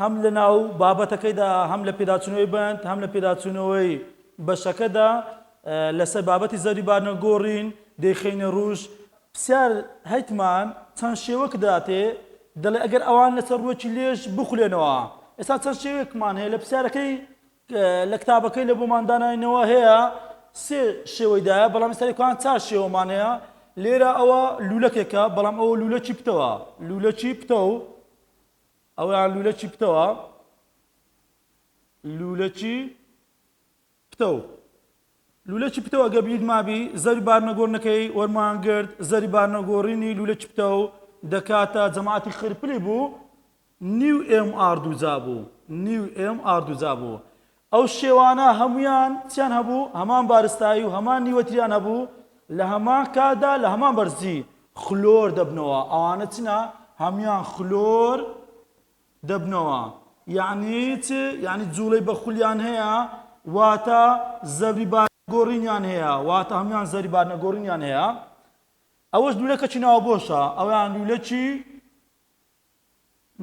هەم لە ناو بابەتەکەیدا، هەم لە پێداچوونەوەی بەند، هەم لە پێداچوونەوەی بەشەکەدا، لەسەر بابەتی زەبری بارنە گۆڕین، دەیخەینە رووش. پرسیار، هەیتمان چەند شێوەک دەداتێ، دەڵێ ئەگەر ئەوان لەسەر رووەکی لێژ بخولێنەوە. ئێستا چەند شێوەکمان هەیە، لە پرسیارەکەی لە کتابەکەی لە بۆمان داناینەوە هەیە سێ شێوەی دایە، بەڵام ئێستا لێکۆڵان چار شێوەمان هەیە. لێرە ئەوە لوولەکێکە، بەڵام ئەوە لوولەکی پتەوە، لوولەکی پتەو. ئەویان لوولەکی پتەوە، لوولەکی پتەو. لوولەکی پتەو ئەگە بیر مابی زەری بارنەگۆڕنەکەی وەرمان گرت زەری بارنەگۆڕینی لوولەکی پتەو دەکاتە جەماعەتی خرپلی بوو نیو ئێم ئاردووجا بوو نیو ئێم ئاردووجا بوو ئەو شێوانە هەموویان چیان هەبوو؟ هەمان بارستایی و هەمان نیوەتریان هەبوو، لە هەمان کاتدا لە هەمان بەرزی خلۆر دەبنەوە، ئەوانە چنە؟ هەموویان خلۆر دەبنەوە. یەعنی چ؟ یەعنی جووڵەی بە خولیان هەیە، واتە زەبری بارنەگۆڕینیان هەیە، واتە هەموویان زەبری بارنەگۆڕینیان هەیە. ئەوەش لوولەکەکی ناوبۆشە، ئەویان لوولەکی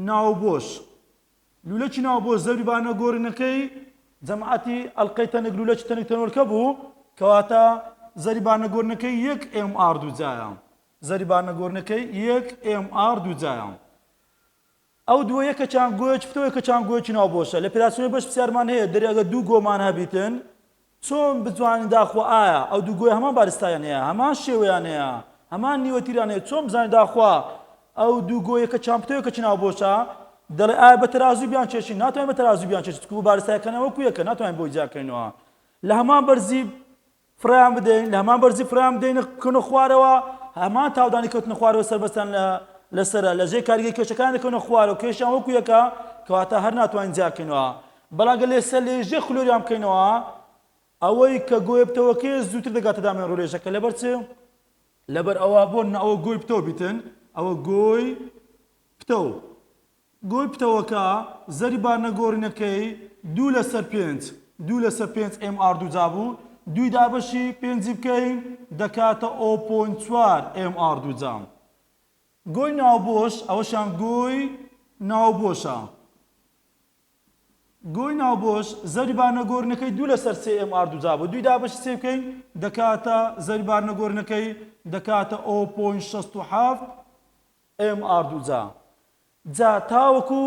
ناوبۆز، لولەکی ناوبۆز زەبری بانە گۆرینەکەی جەماعەتی ئەلقەی تەنک لولەکی تەنک تەنۆلکە بوو کەواتە زەری بانە گۆرینەکەی یەک ئێم ئاڕ دوو جایە زەری بانە گۆرینەکەی یەک ئێم ئاڕ دوو جایە ئەو دووە یەکە چان گۆیەکی پتەوە یەکە چان گۆیەکی ناوبۆسە لە پێداچوونی بەش پرسیارمان هەیە دەری ئەگە دوو گۆمان هەبیتن چۆن بتوانین داخۆ ئایا ئەو دوو گۆیە هەمان بارستایان هەیە هەمان شێوەیان هەیە هەمان نیوەتیران هەیە چۆن بزانین داخوا ئەو دوو گۆیە کە چیان پتەوە کە چی ناو بۆشە دەڵێ ئایا بە تەرازوو بیان چێشین ناتوانین بە تەرازوو بیان چێشین چونکە بارستایەکانیان وەکو یەکە ناتوانین بۆی جیاکەینەوە لە هەمان بەرزی فڕیان بدەین لە هەمان بەرزی فڕیان بدەین کەونە خوارەوە هەمان تاودانی کەوتنە خوارەوە سەربەستان لە لەسرە لە ژێ کاریگەی کێشەکان دەکەونە خوارەوە کێشیان وەکو یەکە کەواتە هەر ناتوانین جیاکەینەوە بەڵام گەر لێسەر لێژێ خلۆریان بکەینەوە ئەوەی کە گۆێ پتەوەکەیە زووتر دەگاتە دامێن ڕولێژەکە لەبەر چ؟ لەبەر ئەوە بۆ نەوە گۆی پتەو بیتن ئەوە گۆی پتەو گۆی پتەوەکە زەری بار نەگۆڕینەکەی دوو لەسەر پێنج دوو لەسەر پێنج ئێم ئار دوو جابوو دوی دابەشی پێنجی بکەین دەکاتە ئۆ پۆین چوار ئێم ئار دوو جام گۆی ناوبۆش ئەوەشان گۆی ناوبۆشە گۆی ناوبۆش، زەبری بارنەگۆرنەکەی دوو لەسەر سێ ئێم ئاڕ دوو جا بە دووی دابەشی سێ بکەین دەکاتە، زەبری بارنەگۆرنەکەی دەکاتە ئۆ پۆینت شەست و حەفت ئێم ئاڕ دوو جا. جا تاوەکو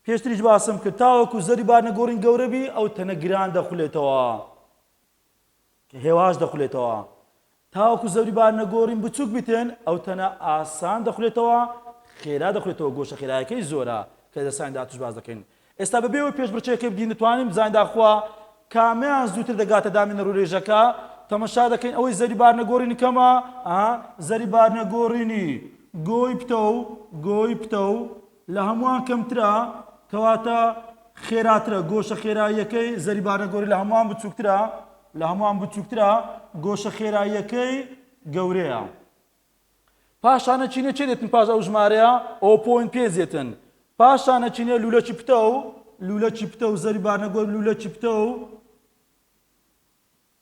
پێشتریش باسم کرد تاوەکو زەبری بارنەگۆڕین گەورە بی ئەو تەنە گران دەخولێتەوە. کە هێواش دەخولێتەوە تاوەکو زەبری بار نەگۆڕین بچوک بتێن ئەو تەنە ئاسان دەخولێتەوە خێرا دەخولێتەوە گۆشە خێرایەکەی زۆرە کە لە سایندا توش باس دەکەین ئێستا بەبێ ئەوەی پێشبڕکێکە بدین دەتوانین بزانین داخوا کامیان زووتر دەگاتە دامێنە ڕورێژەکە تەمەشا دەکەین ئەوەی زەری بار نەگۆڕینی کەمە ئەها زەری بار نەگۆڕینی گۆی پتەو گۆی پتەو لە هەمووان کەمترە، کەواتە خێراترە، گۆشە خێراییەکەی زەریبانە گۆری لە هەمووان بچووکترە، لە هەمووان بچووکترە، گۆشە خێراییەکەی گەورەیە. پاشانە چینە چێ دێتن پاش ئەو ژمارەیە؟ ئۆ پۆینت پێنج دێتن. پاشانە چینە لوولەکی پتەو، لوولەکی پتەو زەریبانە گۆری لوولەکی پتەو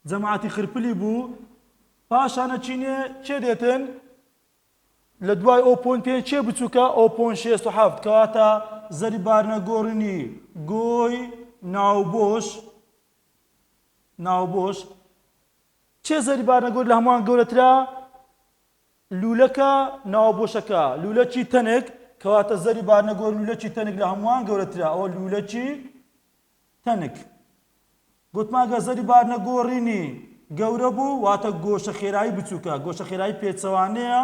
جەماعەتی خرپلی بوو. پاشانە چینێ چێ دێتن؟ لە دوای ئۆ پۆینت پێنج چێ بچووکە ئۆ پۆینت شێست و حەفت کەواتە زەری بارنەگۆرنی گۆی ناوبۆش ناوبۆش چێ زەری بارنەگۆر لە هەمووان گەورەترە لولەکە ناوبۆشەکە لولەکی تەنک کەواتە زەری بارنەگۆر لولەکی تەنک لە هەمووان گەورەترە ئەوە لولەکی تەنک، گوتمان گە زەری بارنە گۆ رینی گەورە بوو واتە گۆشە خێرایی بچووکە گۆشە خێرایی پێچەوانەیە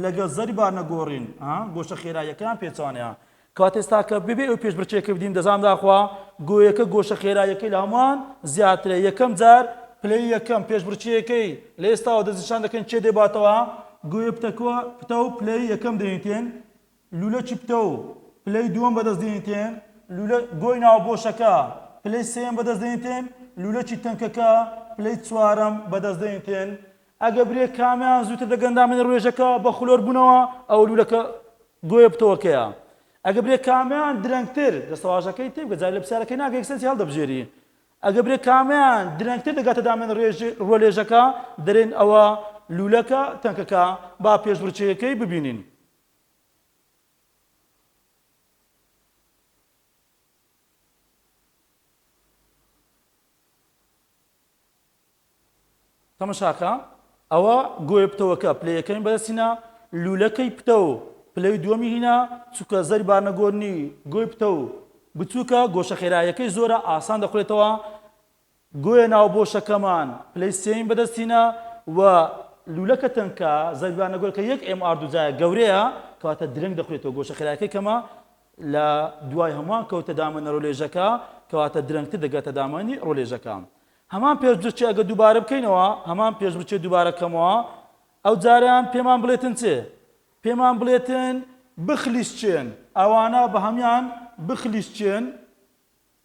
لە گە زەری بارنە گۆ رین ها گۆشە خێراییەکان پێچوانەیە کات ئێستا کە ببێ ئەو پێش برچێک بدین دەزان داخوا گۆیەکە گۆشە خێراییەکەی لە هەمووان زیاترە یەکەم جار پلەی یەکەم پێش برچیەکەی لە ئێستاوە دەستنیشان دەکەین چێ دێباتەوە گوێ پتەکۆ پتە و پلەی یەکەم دەینتێن لوولە چپتە و پلەی دووەم بەدەست دێنیتێن، لوولە گۆی ناوبۆشەکە پلەی سێیەم بەدەست دێنیتێن، لوولەکی تەنکەکە پلەی چوارەم بەدەست دێنیتێن. ئەگەر برێ کامەیان زووتر دەگەندامێنە ڕوێژەکە بە خلۆر بوونەوە ئەوە لوولەکە گۆیە پتەوەکەیە. ئەگەر برێ کامەیان درەنگتر، دەستەواژەکەی تێبگە جارێ لە پسیارەکەی ناگە یەکسەر چی هەڵدەبژێری، ئەگەر برێ کامەیان درەنگتر دەگاتە دامێنە ڕوەلێژەکە دەرێن ئەوە لوولەکە تەنکەکە. با پێشبڕکێیەکەی ببینین. تەمەشاکە ئەوە گۆێ پتەوەکە پلەیەکەمی بەدەستینا لوولەکەی پتە و پلەی دووەمی هینا چکە زەری بارنەگۆرنی گۆی پتە و بچووکە گۆشە خێرایەکەی زۆرە ئاسان دەخورێتەوە گوێ ناوبۆشەکەمان پلەی سێیەمین بەدەستهینا و لوولەکە تەنکە، زەریبانە گۆلکە یەک ئێم ئار دووجایە گەورەیە، کەواتە درەنگ دەخولێتەوە گۆشە خێرایەکەی کەمە لە دوای هەمووان کەوتە دامەنە رۆلێژەکە کەواتە درەنگتر دەگاتە دامەنی رۆلێژەکە هەمان پێشبرکێ ئەگەر دووبارە بکەینەوە هەمان پێشبرکێ دووبارە کەمەوە ئەوجاریان پێمان بڵێتن چ پێمان بڵێتن بخلیسچێن ئەوانە بەهەمیان بخلیسچێن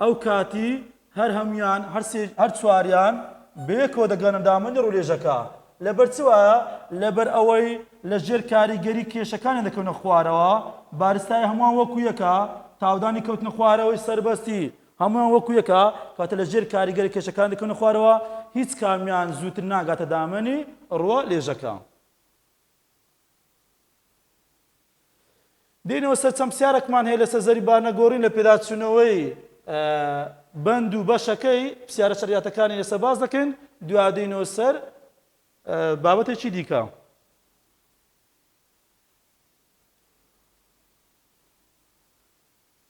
ئەو کاتی هەر هەموویان، هەر سێ، هەر چواریان بەیەکەوە دەگەنە دامەنی ڕۆلێژەکە. لەبەر چ وایە؟ لەبەر ئەوەی لە ژێر کاریگەری کێشەکانیان دەکەونە خوارەوە، بارستای هەمووان وەکو یەکە، تاودانی کەوتنە خوارەوەی سەربەستی هەمووان وەکو یەکە، کاتێ لە ژێر کاریگەری کێشەکان دەکەونە خوارەوە، هیچ کامیان زووتر ناگاتە دامەنی ڕۆلێژەکە. دێینەوە سەر چەند پرسیارەکمان هەیە لەسەر زەری بارنەگۆڕین لە پێداچوونەوەی بەند و بەشەکەی پرسیارە شەریاتەکانی لەسەر باس دەکەین دویا دێینەوە سەر بابەتێکی دیکە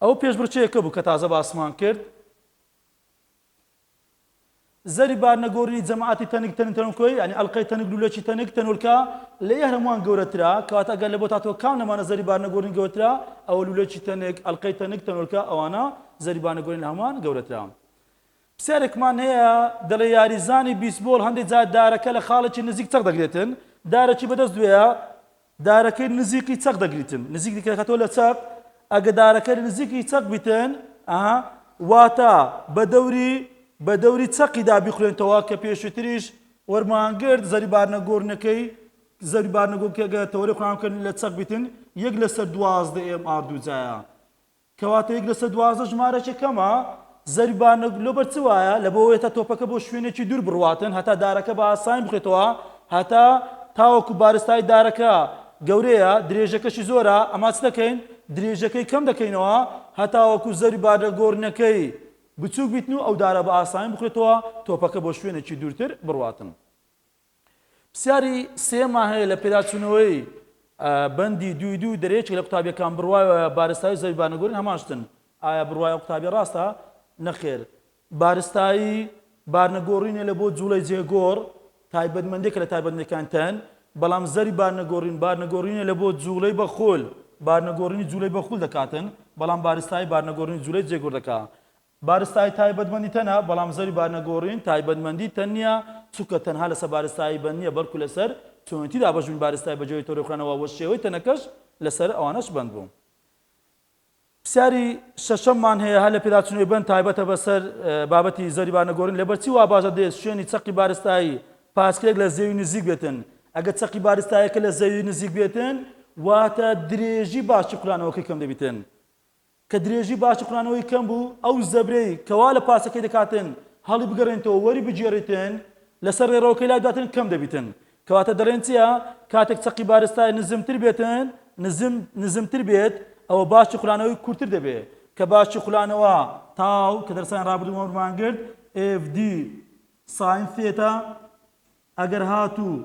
ئەو پێشبڕچەیەکە بوو کە تازە باسمان کرد زەری بار نەگۆرنی جەماعەتی تەنک تەنک تەنکۆی یانی ئەلقەی تەنک لولەکی تەنک تەنۆلکە لە یه رموان گەورەترە کەواتە گەر لە بۆ تاتەوە کام لەمانە زەری بار نەگۆرنی گەورترە ئەوە لولەکی تەنک ئەلقەی تەنک تەنۆلکە ئەوانە زەری بار نەگۆرنی لە هەموان گەورەترە پسیارێکمان هەیە دەڵێ یاریزانی بیسبۆڵ هەندێک جار دارەکە لە خاڵێکی نزیک چەق دەگرێتن دارەکی بەدەست دوێە دارەکەی نزیکی چەق دەگریتن نزیک دکەکەتۆ لە چەق ئەگە دارەکەی نزیکی چەق بیتن ئە واتا بە دەوری بە دەوری چەقی دا بیخولێنتەوە کە پێشوتریش وەرمان گرت زەری بارنە گۆرنەکەی زەری بارنە گۆکەگە تەوەری خۆیان کەن لە چەق بیتن یەک لەسەر دوازدە ئێم ئاردوو جایە کەواتە یەک لەسەر دوازدە ژمارەکە کەمە، زەربانەگوند لەوبەر چ وایە لەبەوەیە تا تۆپەکە بۆ شوێنێکی دوور بڕواتن هەتا دارەکە بە ئاسانی بخوێتەوە هەتا تاوەکو بارستایی دارەکە گەورەیە درێژەکەشی زۆرە ئەما چ دەکەین درێژەکەی کەم دەکەینەوە هەتاوەکو زەربانەگۆرنەکەی بچوک بیتن و ئەو دارە بە ئاسانی بخوێتەوە تۆپەکە بۆ شوێنێکی دوورتر بڕواتن. پرسیاری سێیەممان هەیە لە پێداچوونەوەی بەندی دووی دوو دەرەیەکی لە قوتابیەکان بڕوای بارستایی و زەویبانەگۆرین هەمان شتن ئایا بڕوای ئەو قوتابی ڕاستە نەخێر بارستایی بارنەگۆڕینە لە بۆ جوڵەی جێگۆڕ تایبەتمەندێکە لە تایبەتمەندەکان تەن بەڵام زەری بارنەگۆڕین بارنەگۆڕینە لە بۆ جوڵەی بەخۆل بارنەگۆڕینی جوولەی بەخول دەکاتن بەڵام بارستایی بارنەگۆڕینی جوولەی جێگۆر دەکات بارستایی تایبەتمەندی تەنە، بەڵام زەوی بارنەگۆڕین تایبەتمەندی تەن نییە، چونکە تەنها لەسەر بارستایی بەند نییە، بەڵکو لەسەر چۆنێتی دابەش بووین بارستایی بە جۆرێک تۆرێکرانەوە و شێوەی تەنەکەش لەسەر ئەوانەش بەند بوو. پرسیاری شەشەممان هەیە هەر لە پێداچوونەوەی بەند تایبەتە بەسەر بابەتی زەوی بارنەگۆڕین، لەبەرچی وا باشە دێت شوێنی چەقی بارستایی پاسکیلێک لە زەوی نزیک بێتن؟ ئەگەر چەقی بارستاییەکە لە زەوی نزیک بێتن واتە درێژی باشی قورانەوەکەی کەم دەبیتن، کە درێژی باشی خورانەوەی کەم بوو، ئەو زەبرەی کە وا لە پاسەکەی دەکاتن هەڵی بگەڕێنیتەوە وەری بگێڕیتن لەسەر ڕێڕەوەکەی لای بداتن کەم دەبیتن. کەواتە دەڵێن چیە؟ کاتێک چەقی بارستای نزمتر بێتن، نزم، نزمتر بێت، ئەوە باشی خورانەوەی کورتر دەبێ. کە باشی خولانەوە تاو، کە دەرسانی ڕابردوو وەرمان گرت، FD، ساین ثێتا، ئەگەر هاتوو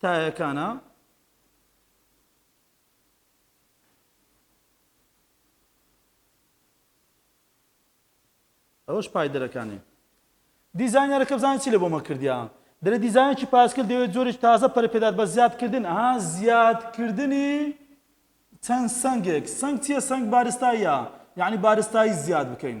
تایەکانە، ئەوەش پایدەرەکانی. دیزاینەرەکە بزانێت چی لە بۆمە کردیە دەرە دیزایەکی پاسکل دەوێت زۆرێک تازە پەرپێدات بە زیادکردن ئەها زیادکردنی چەند سنگێک سنگ چییە سنگ بارستاییە یعنی بارستایی زیاد بکەین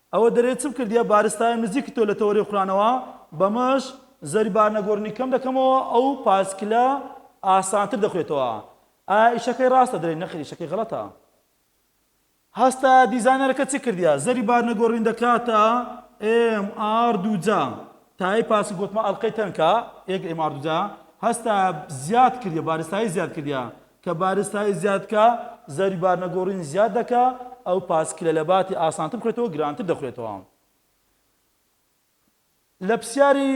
ئەوە دەرێ چم کردیە بارستایە نزیکی تۆ لە تەوەرەی قورانەوە بەمەش زەری بارنە گۆرنی کەم دەکەمەوە ئەو پاسکلە ئاسانتر دەخوێتەوە ئایا ئیشەکەی ڕاستە دەرێ نەخێر ئیشەکەی غەڵەتە هەستە دیزانەرەکە چی کردیە زەری بارنە گۆرنی دەکاتە ئێم ئار دووجا تای پاسی گوتمە ئەڵلقەی تەنکە یەک ئێماردوجا هەستا زیاد کردە بارستایی زیاد کردە کە بارستایی زیاد کا زەوی بارنەگۆڕین زیاد دەکا ئەو پاسکیلە لە باتی ئاسانتر بخورێتەوە گرانتر دەخورێتەوە لە پسیاری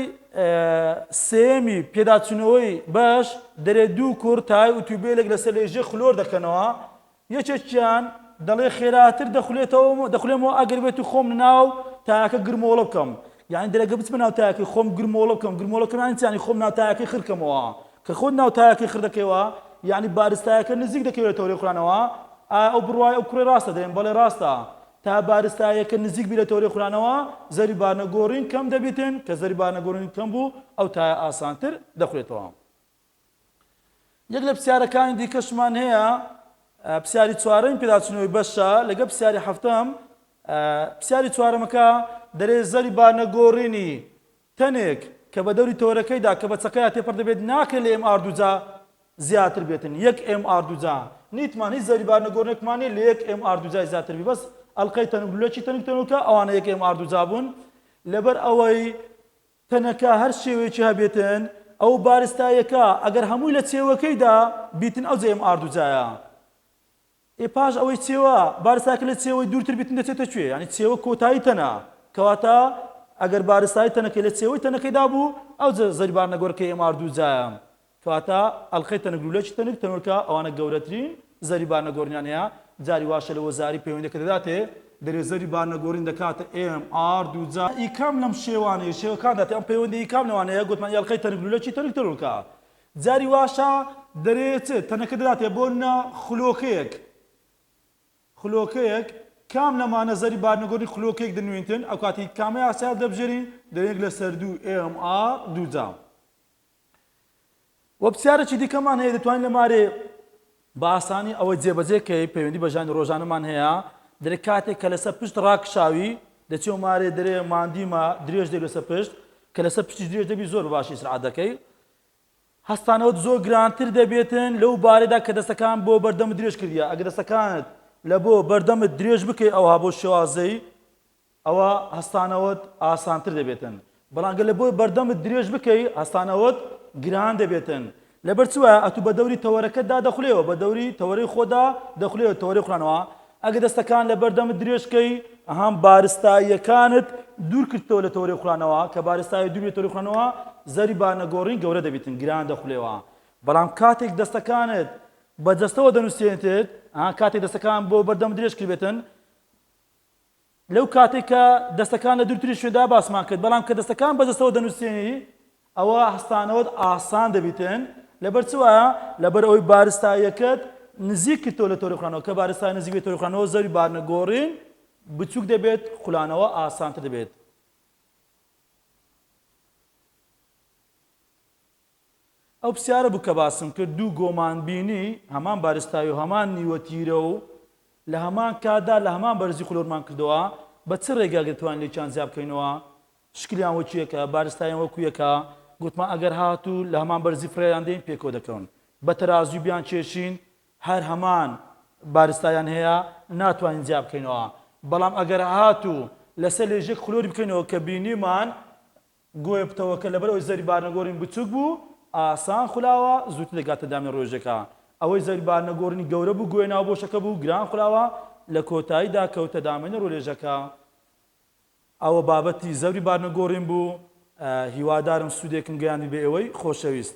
سێمی پێداچنەوەی بەش دەرێ دوو کور تای ئوتوبێلێک لەسەر لێژێ خلۆر دەکەنەوە یەکێکیان دەڵێ خێراتر دەخولێتەوە دەخولێمەوە ئەگەر بێت و خۆم ناو تاکە گرمۆڵە بکەم یعنی درەگە بچمە ناو تاکەی خۆم گرمۆڵە بکەم گرمۆڵەکەمانی چیانی خۆم ناو تاکەی خرکەمەوە کە خۆت ناو تایەکەی خڕ دەکەیەوە یەعنی بارستایەکە نزیک دەکەوێتەوە لێ خورانەوە ئایا ئەو بڕوایە ئەو کوڕەی ڕاستە؟ دەڵێم بەڵێ ڕاستە تا بارستایەکە نزیک بی لە تەوەری خورانەوە زەوی بارنە گۆڕین کەم دەبیتن کە زەوی بارنە گۆڕین کەم بوو ئەو تایە ئاسانتر دەخورێتەوە. یەک لە پسیارەکانی دیکەشمان هەیە پسیاری چوارەمی پێداچنەوەی بەشە لەگە پسیاری حفتەم پسیاری چوارەمەکە دەرێ زەری بارنەگۆڕینی تەنێک کە بە دەوری تۆرەکەیدا کە بە چەقەیا تێپەڕ دەبێت ناکرێت لە ئێم ئار دوو جا زیاتر بێتن یەک ئێم ئار دوو جا نیتمان هیچ زەوری بارنە گۆرنێکمان نیە لە یەک ئێم ئار دوو جای زیاتر بی بەس ئەڵقەی تەنک لولەکی تەنک تەنوکە ئەوانە یەک ئێم ئار دوو جا بوون لەبەر ئەوەی تەنەکە هەر چێوەیەکی هەبێتن ئەو بارستایەکە ئەگەر هەمووی لە چێوەکەیدا بیتن ئەوجە ئێم ئار دوو جایە. ئێ پاش ئەوەی چێوە بارستاکە لە چێوەی دوورتر بێت دەچێتە کوێ؟ یانی چێوە کۆتایی تەنە، کەواتە ئەگەر بارستایی تەنەکەی لە چێوەی تەنەکەیدا بوو ئەوجە زریبانە گۆرەکەی ئێم ئار دوو جایە کەواتە ئەڵقەی تەنک لولەکی تەنک تەنۆلکە ئەوانە گەورەترین زریبانە گۆرنیان هەیە جاری واشە لە وەزاری پەیوەندی کە دەداتێ دەرێ زریبانە گۆرین دەکاتە ئێم ئار دوو جا. ی کام لەم شێوانەیە شێوەکان داتێ ئەم پەیوەندی ی کام لەوانەیە گۆتمان ی ئەڵقەی تەنک لولەکی تەنک تەنۆلکە جاری واشە دەرێ چ تەنەکە دەداتێ بۆ نا خلۆکەیەک خلۆکەیەک کام لەمانە زەری بارنەگۆری خلۆکەیەک دەنوینتن ئەو کاتی کامە یاسایە دەبژێرین دەرێک لە سەردوو ئێم ئا دووجا وە پرسیارێکی دیکەمان هەیە دەتوانین لەمارێ بە ئاسانی ئەوە جێبەجێ کەی پەیوەندی بە ژانی ڕۆژانەمان هەیە دەرێ کاتێک کە لەسەر پشت ڕاکشاوی دەچێ و مارێ دەرێ ماندیمە درێژ دەبێسە پشت کە لەسەر پشتی درێژ دەبی زۆر باشی سرعات دەکەی هەستانەوەت زۆر گرانتر دەبێتن لەو بارەدا کە دەستەکان بۆ بەردەم درێژ کردیە ئەگە دەستەکانت لە بۆ بەردەمت درێژ بکەی ئەوها بۆ شێوازەی ئەوە هەستانەوەت ئاسانتر دەبێتن بەڵانگە لە بۆ بەردەمت درێژ بکەی هەستانەوەت گران دەبێتن لەبەر چوە ئەتو بە دەوری تەوەرەکەدا دەخولەوە بە دەوری تەوەری خۆدا دەخولەوە تەوەری خورانەوە ئەگەر دەستەکان لەبەردەمت درێژ کەی ئەهام بارستاییەکانت دوور کردتەوە لە تۆرەی خوڵانەوە کە بارستاییە دوور بێت تۆرەی خوڵانەوە زەری با نەگۆڕین گەورە دەبیتن گران دەخولێوە بەڵام کاتێک دەستەکانت بە جەستەوە دەنوسێنتت ئەها کاتێک دەستەکان بۆ بەردەم درێژ کردبێتن لەو کاتەی کە دەستەکان لە دوورترین شوێندا باسمان کرد، بەڵام کە دەستەکان بە دەستەوە دەنووسێنی، ئەوا هەستانەوەت ئاسان دەبیتن، لەبەر چ وایە؟ لەبەر ئەوەی بارستاییەکەت نزیک کردتەوە لە تۆری خولانەوە، کە بارستای نزیک بێت تۆری خولانەوە زەوی بارنە گۆڕین بچووک دەبێت، خولانەوە ئاسانتر دەبێت. ئەو پسیارە بوو کە باسم کرد، دوو گۆمانبینی، هەمان بارستایی و هەمان نیوە تیرە و لە هەمان کاتدا لە هەمان بەرزی خلۆرمان کردەوە، بە چ رێگەیەک دەتوانین لێکیان جیا بکەینەوە؟ شکلیان وەکو یەکە، بارستاییان وەکو یەکە؟ گوتمان ئەگەر هاتوو لە هەمان بەرزی فڕێیان دەین پێکەوە دەکەون، بە تەرازووی بیانکێشین هەر هەمان بارستاییان هەیە، ناتوانین جیا بکەینەوە، بەڵام ئەگەر هاتوو لەسەر لێژێک خلۆری بکەینەوە کە بینیمان، گۆێ پتەوەکە لەبەر ئەوەی زەوی بارنەگۆڕین بچووک بوو ئاسان خولاوە زووتر دەگاتە دامی ڕۆژەکە، ئەوەی زەوی بارنەگۆڕینی گەورە بوو گۆێ ناوبۆشەکە بوو گران خولاوە لە کۆتاییدا کەوتە دامێنە ڕۆێژەکە. ئەوە بابەتی زەوی بارنەگۆڕین بوو هیوادارم سوودێکم گەیاندبێ ئێوەی خۆشەویست.